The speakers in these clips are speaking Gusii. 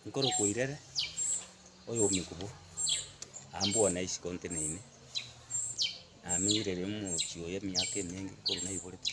Nkorokoirere oyombe kobua, ambwowa na isiko nteneine, namenyire ere omochie oye emiaka emenge korwa naiborete.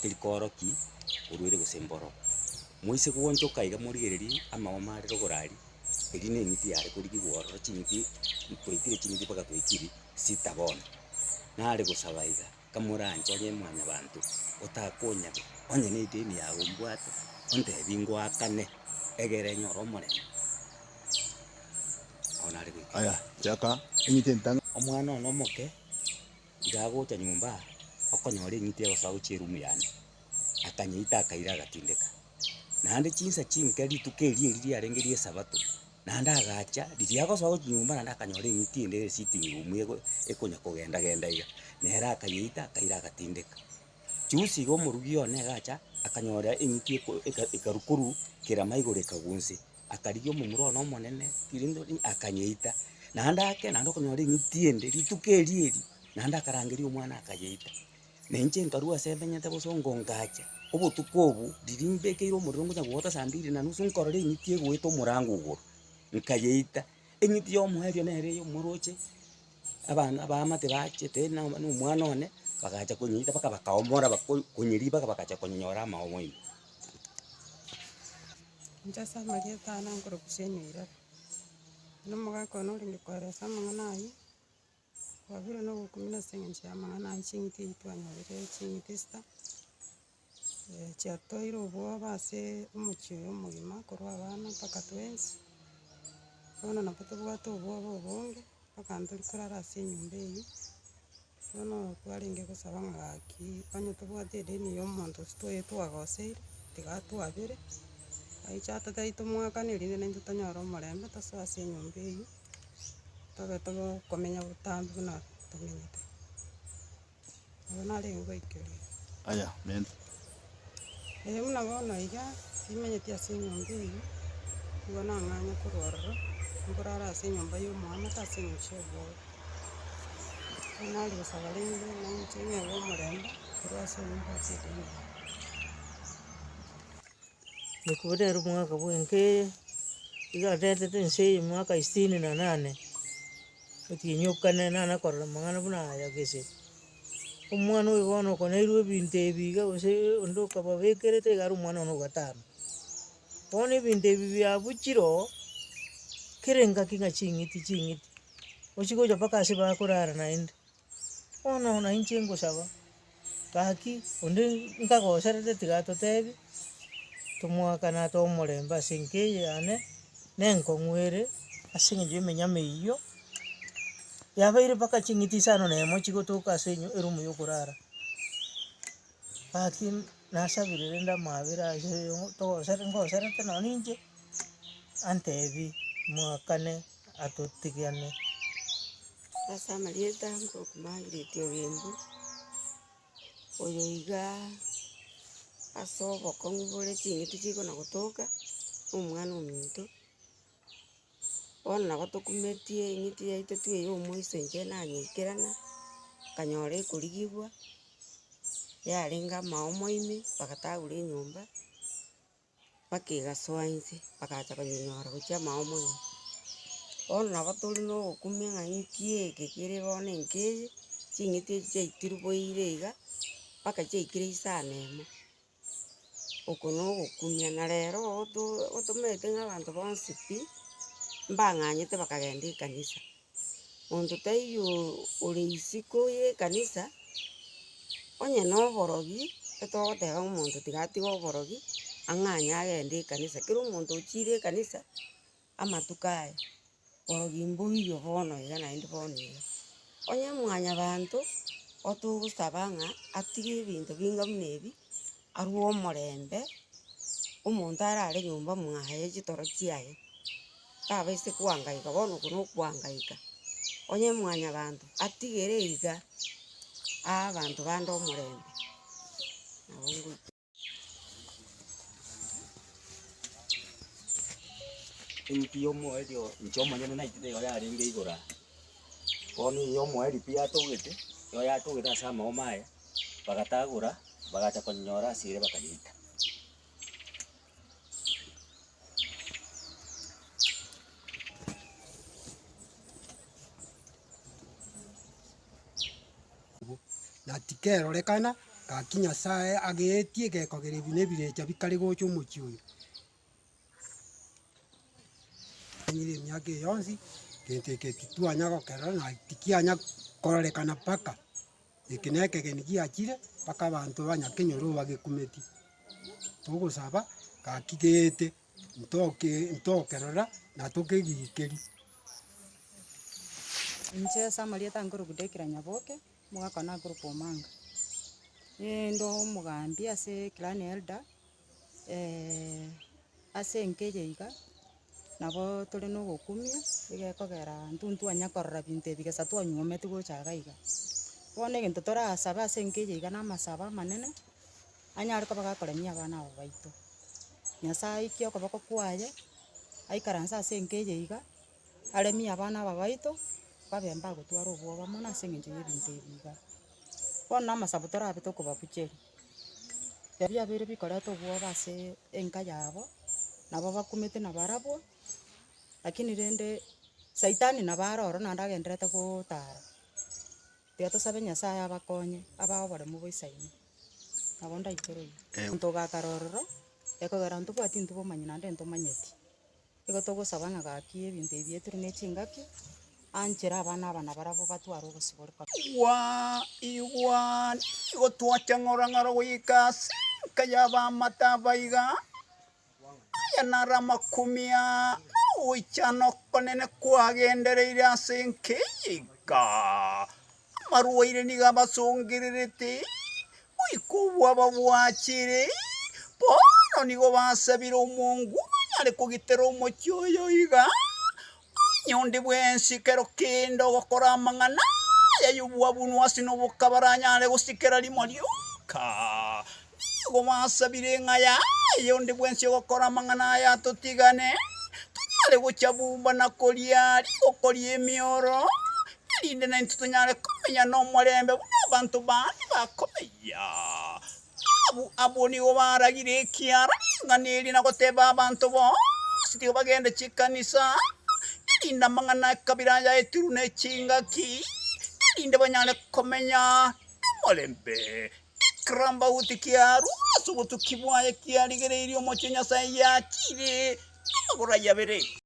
teri kooroki orwere gose mboro. Moise gwanchoka iga morigererie amagoma are rogorari, erio neng'iti yare korigigwa ororo ching'iti twaitire ching'iti mpaka twaikiri sita bono. Nare gosaba iga, kamoranche onye mwanyabanto, otakonyare onye ne edeni yago mbwate, ontebi ngoakane egere nyore omorembe. Nabo nare goika. Aya, chaka eng'iti entang'ani. Omwana one omoke Tiga gocha nyomba okonyora eng'iti egosoa gochia erumu yane. Akanyeita akaira agatindeka. Naende chinsa chinke rituko erio eri riarenge ri'esabato, naende agacha, riria agosoa gochia nyomba naende akanyora eng'iti ende ere sitting room ego ekonya kogenda genda iga, nere akayeita akaira agatindeka. Juzi iga omorugi one iga acha, akanyora eng'iti eko eka ekaru korwa kerama igoro ekagwa onse. akarigia omomura one omonene rirorio ri akanyeita, naende ake naende okonyora ring'iti ende rituko eri eri, naende akarangeria omwana akanyeita. Na inche nkarwa ase ebenyete bosongo ngacha, obotuko obo riria mbekeire omorero ngocha goeta saa mbiri na nusu nkorora eng'iti egoeta omorango igoro, nkayeita. Eng'iti ya omoerio nere eye omoroche, abana abaamate bachete na na omwana one, bagacha konyeita mpaka bakaomora bako konyeriba mpaka bagacha konyora amaogo ime. Inche ase amarieta aye nankore Hussein Wairari, na omogaka one orenge koera ase amang'ana ayio, twabire na ogokumia ase eng'encho y'amang'ana ayio ching'iti echi twanyorire ching'iti isita, chiatoeire obwoba ase omochie oyo omogima korwa abana mpaka twensi, bono nabo tobwate obwoba obonge, mpaka ntori korara ase enyomba eyio. Bono kwarenge gosaba ng'a gaki, onye tobwate edeni ya omonto ase twaye twagoseire, tiga twabere, aiche ata tari tomoakane erinde naintwe tonyore omorembe tosoe ase enyomba eyio, tobe tobe okomenya botambe buna tomenyete. Nabo narenge goika erio. Ee buna bono iga, nimenyeti ase enyomba eyio, nigo nang'anye korwa ororo, nkorara ase enyomba ya omoamate ase eng'encho y'obwoba. Ekero naria gosaba rende, nainche ng'ebe omorembe, korwa ase enyomba ase edinini. Nkoorere omwaka bwenka eye, iga ndentete ense eye emiaka isini na nane, otinyokane nana korora amang'ana buna aya gese, Omwana oyo bono okonairwe ebinto ebi iga gose onde okababekerete iga aria omwana one ogatama. Bono ebinto ebi biabuchire oo, kera engaki ng'a ching'iti ching'iti, ochia gocha mpaka ase bakorara naende, bono nainche ngosaba, gaki onde nkagoserete tiga totebi, tomoakane atoe omorembe ase enka eye yane, na enkong'u ere, ase eng'encho ya emenyama eyio. Yabeire mpaka ching'iti isano na emo chigotoka ase enyu erumu yokorara. Gaki nasabire rende amaabera ase oyo togosere ngoserete nonye ninche, antebi mwakane atotigane. Ase amarieta nkoro Margaret Ogembu, oyo iga ase obokong'u bore ching'iti chikona gotoka, omwana ominto. Bono nabo tokumetie eng'iti yaito twe ya omoiso inche nanyoikerana, nkanyora ekorigigwa, yarenge amaomo ime, bagatagura enyomba, mpaka egasoa inse, bagacha konyora gochia amaomo ime. Bono nabo tore na ogokumia ng'a eng'iti eke kere bono enke eye, ching'iti echi chiaitiruboire iga, mpaka chiaikire isano emo. Oko nogokumia, na rero oto otomerete ng'a abanto bonsi pi, mbang'anyete bakagenda ekanisa, monto taiyo ore isiko ya ekanisa, onye na oborogi, etogoteba ng'a omonto tiga atige oborogi, ang'anye agende ekanisa, kera omonto ochiire ekanisa. amatuko aya, borogi mboiyo bono iga naende bono iga. Onye mwanyabanto otogosaba ng'a atige ebinto binga buna ebi, arue omorembe, omonto arare nyomba mwaye chitoro chiaye, tabaseti koangaika, bono oko na okoangaika. Onye mwanyabanto atigere iga, aa abanto bande omorembe. Eng'iti y'omoerio inche omonyene naitete eyo yarenge igoro aa. Bono eye omoerio pi yatogete, eyo yatogete ase amaomo aye, bagatagora, bagacha konyora ase ere bakanyita. Na tikerorekana, gaki Nyasae ageetie gekogera ebi nebirecha bikare gocha omochie oyo. Nanyire emiaka eye yonsi, gento eke titwanya gokerora, na tikianya kororekana mpaka, eke na ekegeni giachire, mpaka abanto ba Nyakenyoro bagekumeti. Togosaba, gaki geete. ntoke ntokerora na tokegikeri. Inche Samarieta nkorokwa Dekira Nyaboke, omogaka one akorokwa Omanga. Ninde omogambi ase clan elder ase enka eye iga, nabo tore na ogokumia, egekogera intwe ntitwanyara korora binto ebi egesa twanywometie gocha iga iga. Bono egento torasabe ase enka eye iga na amasabo amanene. anyare koba gakoremia abana aba baito. Nyasae aikie okoboko kwaye, aikaranse ase enka eye iga, aremie abana aba baito, babe mbagotwara obwoba mono ase eng'encho y'ebinto ebi iga. Bono na amasabo torabe tokobabucheria, ebi abere bikoreta obwoba ase enka yabo, nabo bakumete na barabwo, lakini rende saitani nabo are ororo naende agenderete gotara. Tiga tosabe Nyasae abakonye, abae oboremu boisaine. Nabo ndaitoreria, monto ogakara ororo, ekogera intwe tobwati intwe obomanyi naende ntomanyeti. Nigo togosaba ng'a gaki ebinto ebi bieterwe ne chingaki, anchere abana aba nabarabwo batware obosibore kore. Igwaa, igwaa, nigo twacha ng'orong'oro goika ase enka y'abaamate aba iga. Aya naro amakumia nogoichana okonene kwagendereire ase enka eyika. Amarwaire nigo abasongererete, goika obwo ababwachire bono nigo basabire omongu onyare kogitera omochie oyo iga. Onye onde bwensi kero kende ogokora amang'ana aya y'obwabunu ase noboka baranyare gosikera rimo rioka, nigo basabire ng'a yaye onde bwensi ogokora amang'ana aya atotigane, tonyare gochia bumba na koria rigoko ri'emioro, erinde naintwe tonyare komenya nomorembe buna abanto bande bakomenya. Abwo abwo nigo baragire ekiara ring'ana eri na goteba abanto bonsi tiga bagende chikanisa, erinde amang'ana ekabira aya etirwe ne chingaki, erinde banyare komenya nomorembe. Ekirambauti kiarwo ase obotuki bwaye kiarigereirie omochie Nyasae yachiire amagoro ayabere.